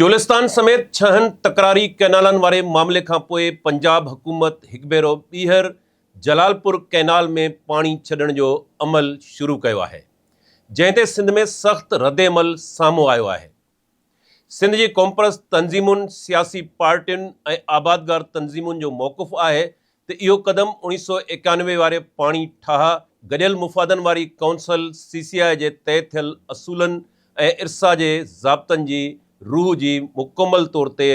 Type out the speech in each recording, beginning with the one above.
چولستان سميت ڇهن تڪراري ڪئنالن واري معاملي کانپوء پنجاب حڪومت هڪ ڀيرو ٻيهر جلال پور ڪئنال ۾ پاڻي ڇڏڻ جو عمل شروع ڪيو آهي جنهن تي سنڌ ۾ سخت ردعمل سامهون آيو آهي سنڌ جي قومپرست تنظيمن سياسي پارٽين ۽ آبادگار تنظيمن جو موقف آهي ته اهو قدم اوڻيهه سؤ ايڪانوي واري پاڻي ٺاهه گڏيل مفادن واري ڪائونسل، سي سي آء، جي طئي ٿيل اصولن ۽ ارسا جي ضابطن جي روح جي مڪمل طور تي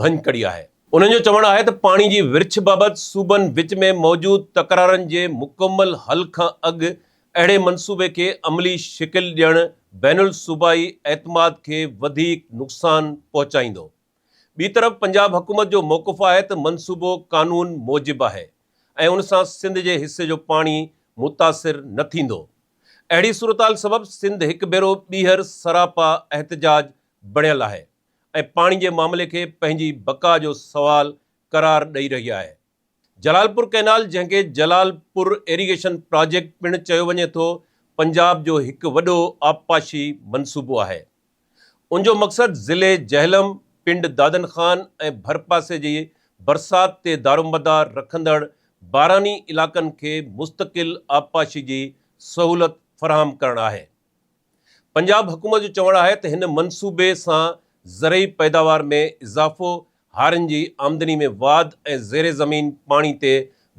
ڀڃ ڪڙي آهي. انهن جو چوڻ آهي ته پاڻي جي ورڇ بابت صوبن وچ ۾ موجود تڪرارن جي مڪمل حل کان اڳ اهڙي منصوبي کي عملي شڪل ڏيڻ بين الصوبائي اعتماد کي وڌيڪ نقصان پهچائيندو. ٻي طرف پنجاب حڪومت جو موقف آهي ته منصوبو قانون موجب آهي ۽ ان سان سنڌ جي حصي جو پاڻي متاثر نه ٿيندو. اهڙي صورتحال سبب سنڌ هڪ ڀيرو ٻيهر سراپا احتجاج بڻيل آهي ۽ پاڻي جي معاملي کي پنهنجي بقا جو سوال قرار ڏئي رهي آهي. جلالپور ڪئنال جنهن کي جلال پور ايريگيشن پراجيڪٽ پڻ چيو وڃي ٿو پنجاب جو هڪ وڏو آبپاشي منصوبو آهي ان جو مقصد ضلعي جهلم پنڊ دادن خان ۽ ڀرپاسي جي برسات تي دارومدار رکندڙ باراني علاقن کي مستقل آبپاشي جي سهولت فراهم ڪرڻ آهي. پنجاب حڪومت جو چوڻ آهي ته هن منصوبي سان زرعي پيداوار ۾ اضافو، هارين جي آمدني ۾ واڌ ۽ زير زمين پاڻي تي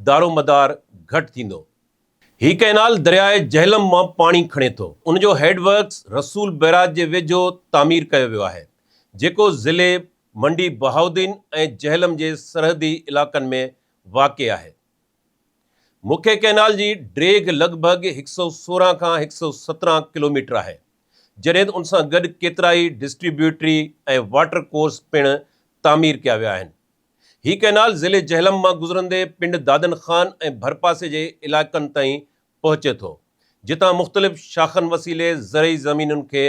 دارومدار گهٽ ٿيندو. هي ڪئنال درياء جهلم مان پاڻي کڻي ٿو. ان جو هيڊ ورڪس رسول بئراج جي ويجهو تعمير ڪيو ويو آهي، جيڪو ضلعي منڊي بهاؤالدين ۽ جهلم جي سرحدي علائقن ۾ واقع آهي. مکي ڪئنال جي ڊيگهه لڳ ڀڳ هڪ سؤ سورهن کان هڪ سؤ سترهن ڪلوميٽر آهي، جڏهن ته ان سان گڏ ڪيترائي ڊسٽريبيوٽري ۽ واٽر ڪورس پڻ تعمير ڪيا ويا آهن. هي ڪئنال ضلعي جهلم مان گذرندي پنڊ دادن خان ۽ ڀرپاسي جي علائقن تائين پهچي ٿو، جتان مختلف شاخن وسيلي زرعي زمينن کي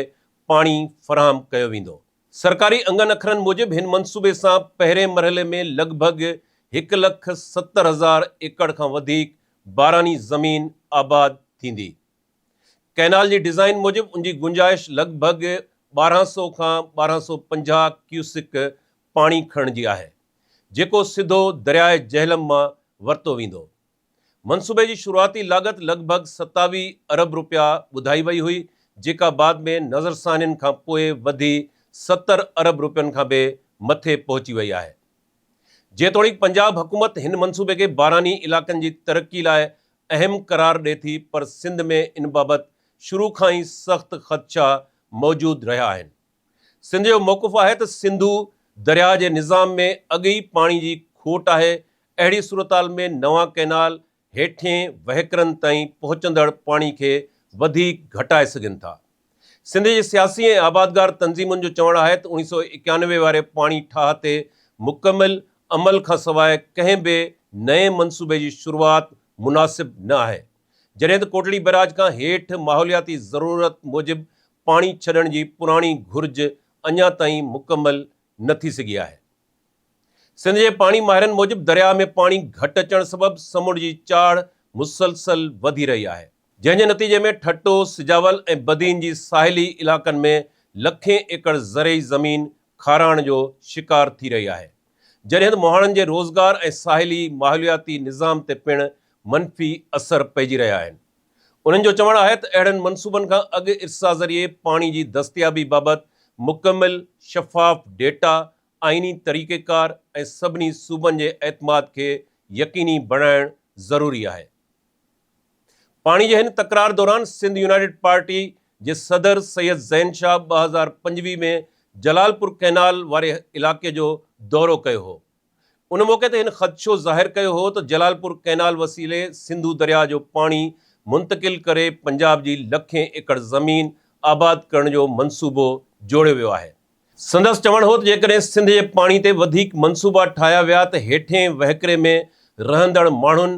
پاڻي فراهم ڪيو ويندو. سرڪاري انگن اکرن موجب هن منصوبي سان پهرين مرحلي ۾ لڳ ڀڳ هڪ لک ستر هزار ايڪڙ کان وڌيڪ باراني زمين آباد ٿيندي. ڪئنال جي ڊيزائن موجب ان جي گنجائش لڳ ڀڳ ٻارهن سؤ کان ٻارهن سؤ پنجاهه ڪيوسڪ پاڻي کڻڻ جي آهي، جيڪو سڌو درياء جهلم مان ورتو ويندو. منصوبي جي شروعاتي لاڳت لڳ ڀڳ ستاويهه ارب رپيا ٻڌائي وئي هئي، جيڪا بعد ۾ نظرثانين کان پوء وڌي ستر ارب رپين کان به مٿي پهچي وئي آهي. جيتوڻيڪ پنجاب حڪومت هن منصوبي کي باراني علائقن جي ترقي لاء اهم قرار ڏئي ٿي پر سنڌ ۾ ان بابت شروع کان ئي سخت خدشا موجود رهيا آهن. سنڌ جو موقف آهي ته سنڌو درياهه جي نظام ۾ اڳ ئي پاڻي جي کوٽ آهي، اهڙي صورتحال ۾ نوان ڪئنال هيٺين وهڪرن تائين پهچندڙ پاڻي کي وڌيڪ گهٽائي سگهن ٿا. سنڌ جي سياسي ۽ آبادگار تنظيمن جو چوڻ آهي ته اڻيهه سؤ ايڪيانوي واري پاڻي ٺاهه تي مڪمل عمل کان سواء ڪنهن به نئين منصوبي جي شروعات مناسب نه آهي، جڏهن ته ڪوٽڙي بئراج کان هيٺ ماحولياتي ضرورت موجب پاڻي ڇڏڻ جي پراڻي گهرج اڃا تائين مڪمل نه ٿي سگهي آهي. سنڌ جي پاڻي ماهرن موجب درياهه ۾ پاڻي گهٽ اچڻ سبب سمنڊ جي چاڙهه مسلسل وڌي رهي آهي، جنهن جي نتيجي ۾ ٺٽو، سجاول ۽ بدين جي ساحلي علائقن ۾ لکين ايڪڙ زرعي زمين کارائڻ جو شڪار ٿي رهي آهي، جڏهند مهاڻن جي روزگار ۽ ساحلي ماحولياتي نظام تي پڻ منفي اثر پئجي رهيا آهن. انهن جو چوڻ آهي ته اهڙن منصوبن کان اڳ ارسا ذريعي پاڻي جي دستيابي بابت مڪمل، شفاف ڊيٽا، آئيني طريقيڪار ۽ سڀني صوبن جي اعتماد کي يقيني بڻائڻ ضروري آهي. پاڻي جي هن تڪرار دوران سنڌ يونائيٽيڊ پارٽي جي صدر سيد زين شاهه ٻه هزار پنجويهه ۾ جلالپور ڪئنال واري علائقي جو دورو ڪيو هو. ان موقعي تي هن خدشو ظاهر ڪيو هو ته جلال پور ڪئنال وسيلي سنڌو درياهه جو پاڻي منتقل ڪري پنجاب جي لکين ايڪڙ زمين آباد ڪرڻ جو منصوبو جوڙيو ويو آهي. سندس چوڻ هو ته جيڪڏهن سنڌ جي پاڻي تي وڌيڪ منصوبا ٺاهيا ويا ته هيٺين وهڪري ۾ رهندڙ ماڻهن،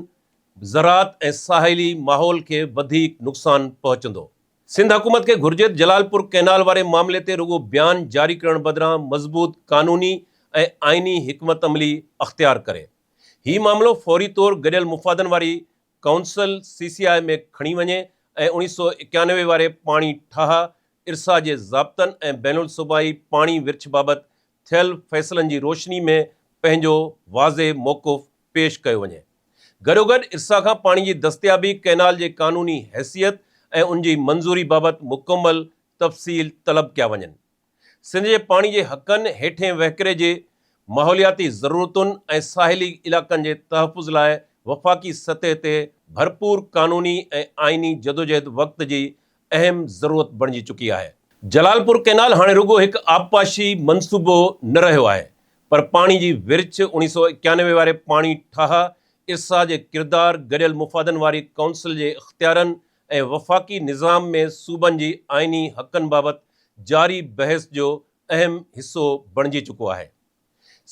زراعت ۽ ساحلي ماحول کي وڌيڪ نقصان پهچندو. سنڌ حڪومت کي گهرجي ته جلال پور ڪئنال واري معاملي تي رڳو بيان جاري ڪرڻ بدران مضبوط قانوني ۽ آئيني حڪمت عملي اختيار ڪري هي معاملو فوري طور گڏيل مفادن واري ڪائونسل، سي سي آء، ۾ کڻي وڃي ۽ اوڻيهه سؤ ايڪانوي واري پاڻي ٺاهه ارسا جي ضابطن ۽ بين الصوبائي پاڻي ورڇ بابت ٿيل فيصلن جي روشني ۾ پنهنجو واضح موقف پيش ڪيو وڃي. گڏوگڏ ارسا کان پاڻي جي دستيابي، ڪئنال جي قانوني حيثيت ۽ ان جي منظوري بابت مڪمل تفصيل طلب ڪيا وڃن. سنڌ جي پاڻي جي حقن، هيٺين وهڪري جي ماحولياتي ضرورتن ۽ ساحلي علائقن جي تحفظ لاء وفاقي سطح تي ڀرپور قانوني ۽ آئيني جدوجهد وقت جي اهم ضرورت بڻجي چڪي آهي. جلال پور ڪئنال هاڻي رڳو هڪ آبپاشي منصوبو نه رهيو آهي پر پاڻي جي ورڇ، اوڻيهه سؤ ايڪانوي واري پاڻي ٺاهه، ارسا جي ڪردار، گڏيل مفادن واري ڪائونسل جي اختيارن ۽ وفاقي نظام ۾ صوبن جي آئيني حقن بابت جاري بحث جو اهم حصو بڻجي چڪو آهي.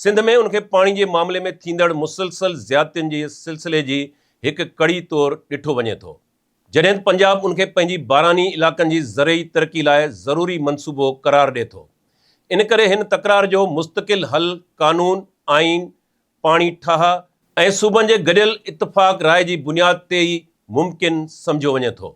سنڌ ۾ ان کي پاڻي جي معاملي ۾ ٿيندڙ مسلسل زيادتين جي سلسلي جي هڪ ڪڙي طور ڏٺو وڃي ٿو. جڏهن ته پنجاب ان کي پنهنجي باراني علائقن جي زرعي ترقي لاء ضروري منصوبو قرار ڏئي ٿو. ان ڪري هن تڪرار جو مستقل حل قانون، آئين، پاڻي ٺاهه، ۽ صوبن جي گڏيل اتفاق راء جي بنياد تي ئي ممڪن سمجهيو وڃي ٿو.